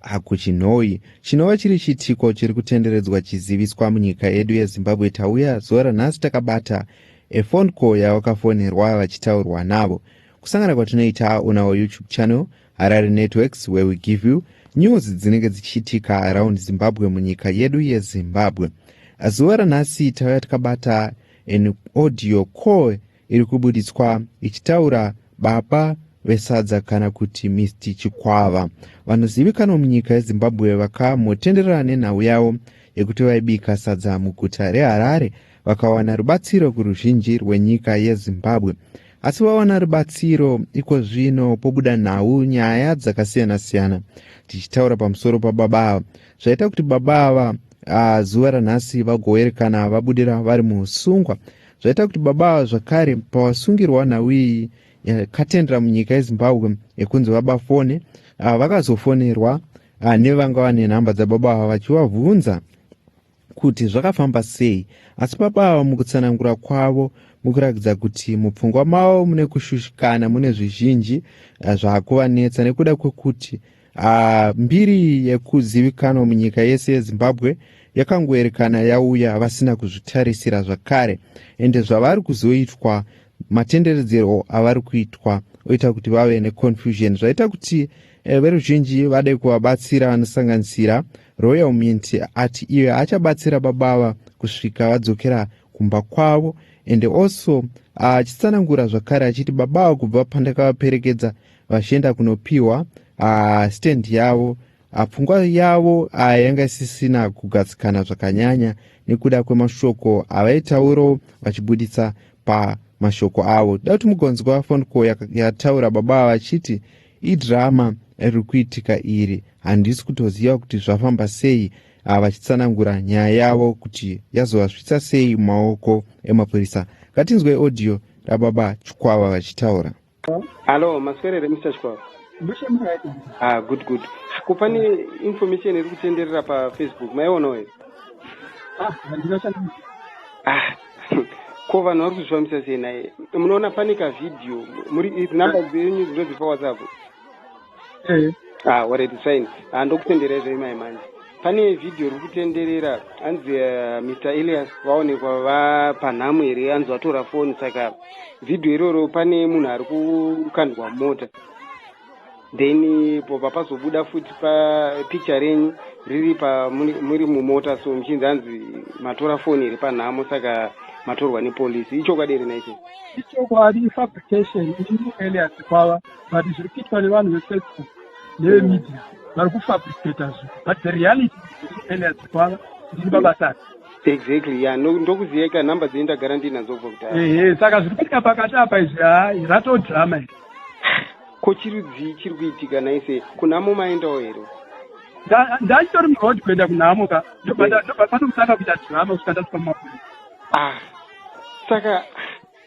Hakuchinhoyi chinova chiri chiitiko chiri kutenderedzwa chiziviswa munyika yedu yezimbabwe tauya zuva ranhasi takabata efone call yavakafonerwa vachitaurwa navo kusangana kwatinoita on our youtube channel harare networks where we give you news dzinenge dzichiitika around zimbabwe munyika yedu yezimbabwe zuva ranhasi tauya takabata an audio call iri kubuditswa ichitaura baba vesadza kana kuti mr chikwava vanozivikanwa munyika yezimbabwe vakamotenderana nenhau yavo yekuti vaibika sadza muguta reharare vakawana rubatsiro kuruzhinji rwenyika yezimbabwe asi vawana rubatsiro iko zvino pobuda nhau nyaya dzakasiyana-siyana tichitaura pamusoro pababa ava zvaita kuti baba ava ah, zuva ranhasi vagoerekana vabudira vari musungwa zvaita kuti baba ava zvakare pavasungirwa nhau iyi yakatendera munyika yezimbabwe yekunzi baba fone ava vakazofonerwa ah, nevanga vane nhamba dzababa ava vachivabvunza kuti zvakafamba sei asi baba ava mukutsanangura kwavo mukuratidza kuti mupfungwa mavo mune kushushikana mune zvizhinji eh, zvakuvanetsa nekuda kwekuti Ah, mbiri yekuzivikanwa munyika yese yezimbabwe yakangoerekana yauya vasina kuzvitarisira zvakare ende zvavari kuzoitwa matenderedzero avari kuitwa oita kuti vave neconfusion zvaita kuti eh, veruzhinji vade kuvabatsira vanosanganisira royal mint ati iye achabatsira babava kusvika vadzokera kumba kwavo ende also achitsanangura ah, zvakare achiti babava kubva pandakavaperekedza vachienda kunopiwa uh, stand yavo uh, pfungwa yavo uh, yanga isisina kugadzikana zvakanyanya nekuda kwemashoko avaitauro vachibuditsa pamashoko avo da kuti mugonzwa phone call yataura baba vachiti idrama riri kuitika iri handisi kutoziva kuti zvafamba sei ah, vachitsanangura nyaya yavo kuti yazovasvitsa sei mumaoko emapurisa ngatinzwe audio rababa chikwava vachitaura Hello, maswerere Mr. Chikwaro. Ah, good good. Ko pane information iri kutenderera pa Facebook, maiona here? Ah, handina chandina. Ah. Ko vanhu vari kuzvifambisa sei naye? Munoona pane ka video, muri number dzenyu dzinodzipa WhatsApp. mm. ah, what is sign ah, ndokutenderai zve mai manje pane vhidhiyo riri kutenderera hanzi uh, eh, mr elias vaonekwa vapanhamo here hanzi vatora foni saka vhidhiyo iroro pane munhu ari kukandwa mota then eh, pobva pazobuda futi papicha renyu riri pamuri mumota so muchinzi hanzi matora foni iri panhamo saka matorwa nepolisi ichokwadi here naicho ichokwadi fabrication ielias kwava but zviri kuitwa nevanhu vefacebook nevemedia vari kufabricata zvi but the reality eneazikwava ndiri babasati exactly ya ndokuziyeka number dzei ndagara ndinadzo kubva kudhara ehe saka zviri kuitika pakati apa izvi haa rato drama iri ko chirudzii chiri kuitika naise kunhamo maendawo here ndachitori muroad kuenda kunhamo ka ndobva ndobva panokutanga kuita drama kusvika ndasvika mumapurisa ah saka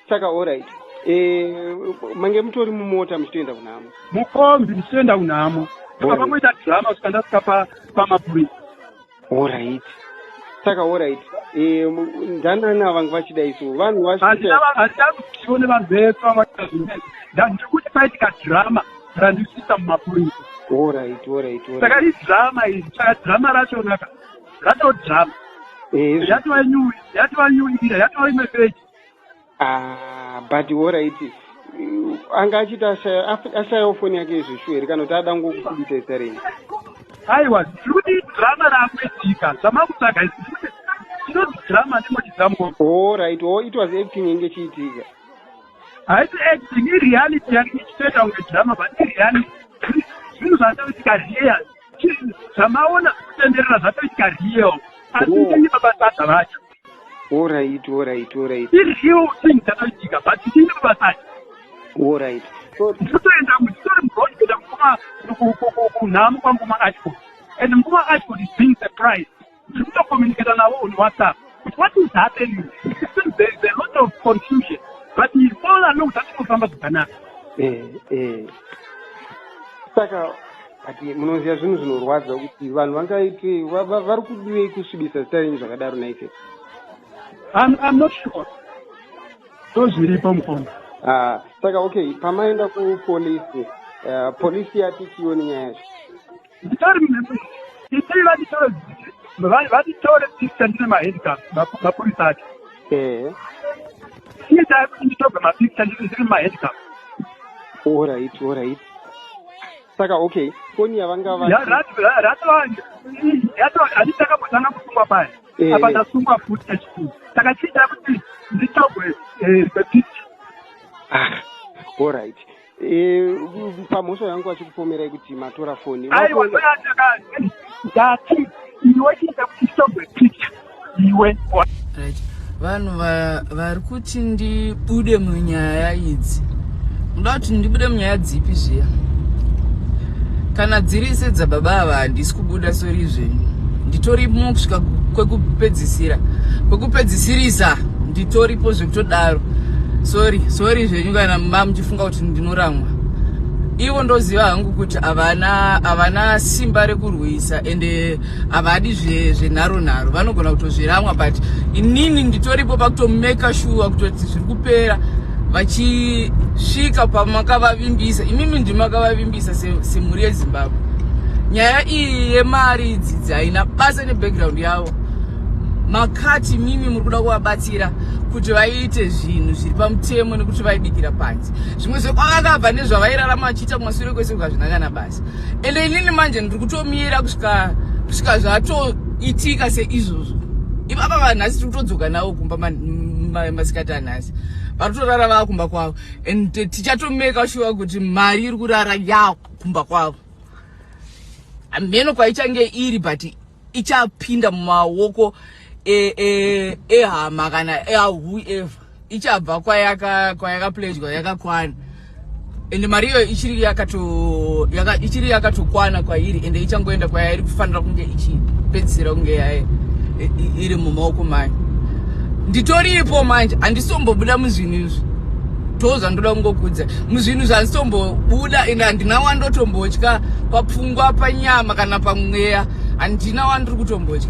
saka orit eh, mange mutori mumota muchitoenda kunhamo mukombi muchitoenda kunhamo apa pamoita drama kusvika ndasvika pamapurisa orit saka orit eh, ndanani avange vachida isu vanhu vaandida kutiwo nevanhu vese vavaita zvine ndandiri kuti paitika drama randisvisa mumapurisa orit orit saka idrama iri saka drama rachonaka ratodrama eh, yatova nyuwi yatova nyuwi ira yatova imwe peji Ah, but horaiti anga achiti ashayawo foni yake izvo shuwa here kana kuti ada ngokukubita isarei aiwa zvinoti drama raakuitika zvamakutsvaga chinoti drama ndimochidzamuko horaiti o oh, it was acting inge chiitika haisi acting ireality yake ichitoita kunge drama but ireality zvinhu zvatoitika real zvamaona kutenderera zvatoitika real asi ndenyebabasada vacho Alright, alright, alright. Iri hiyo thing dzakaitika but ini kubasaji. Alright. So ndinotoenda nditori murod kuenda mukuma kunhamu kwangu kuma ashford and mukuma ashford is being surprised. Ndiri kutocommunicata navo on WhatsApp. But what is happening? It seems there is a lot of confusion. But he all along zvachingofamba zvakanaka. Eh, eh. Saka but munoziva zvinhu zvinorwadza kuti vanhu vangaite vari kudivei kusvibisa zita renyu zvakadaro naise i'm not sure so zviripo mukoma ah, saka okay pamaenda kupolisi eh, polisi yati chioni nyaya yacho nditori itii vatitore vatitore picture ndine mahandicap mapurisa acho ehe iye taikuti nditobva mapicture ndiri mahandicap orit orit saka okay foni yavangavaanditakamatanga kusungwa paya eh. apa ndasungwa futi kachikuru saka chiita kuti nditogwe eh, zepiti ah, all right eh, pamhosva yangu vachikupomerai kuti matora foni aiwa ndoyandakati ndati iwe chiita kuti nditogwe picha iwe right vanhu vari kuti ndibude munyaya idzi ndoda kuti ndibude munyaya dzipi zviya kana dziri se dzababa ava handisi kubuda sori zvenyu nditori mukusvika kwekupedzisira kwekupedzisirisa nditoripo zvekutodaro sori sori zvenyu kana mba muchifunga kuti ndinoramwa ivo ndoziva hangu kuti havana havana simba rekurwisa ende havadi zvenharo zve nharo vanogona kutozviramwa but inini nditoripo pakutomeka shuwa kutoti zviri kupera vachisvika pamakavavimbisa imimi ndimakavavimbisa semhuri yezimbabwe nyaya iyi yemari idzidzi haina basa nebackground yavo makati mimi muri kuda kuvabatsira kuti vaite zvinhu zviri pamutemo nekuti vaibikira panzi zvimwe zvekwavakabva nezvavairarama vachiita kumasure kwese kukazvinakana basi and inini manje ndiri kutomira kusvika kusvika zvatoitika seizvozvo ipapa vanhu nhasi tiri kutodzoka navo kumba masikati anhasi vari kutorara vava kumba kwavo and tichatomeka shuwa kuti mari iri kurara ya kumba kwavo hameno kwaichange iri but ichapinda mumaoko ehama e, e kana eahuever ichabva kwayaka kwayaka pledgwa yakakwana ende mari iyoyo ichiri yakato yaka, ichiri yakatokwana kwairi ende ichangoenda kwayairi kufanira kunge ichipedzisira kunge yaye iri mumaoko mayo nditoripo manje handisombobuda muzvinhu izvi ndo zvandoda kungokuudza muzvinhu zvanditombobuda and handina wandotombotya papfungwa panyama kana pamweya handina wandiri kutombotya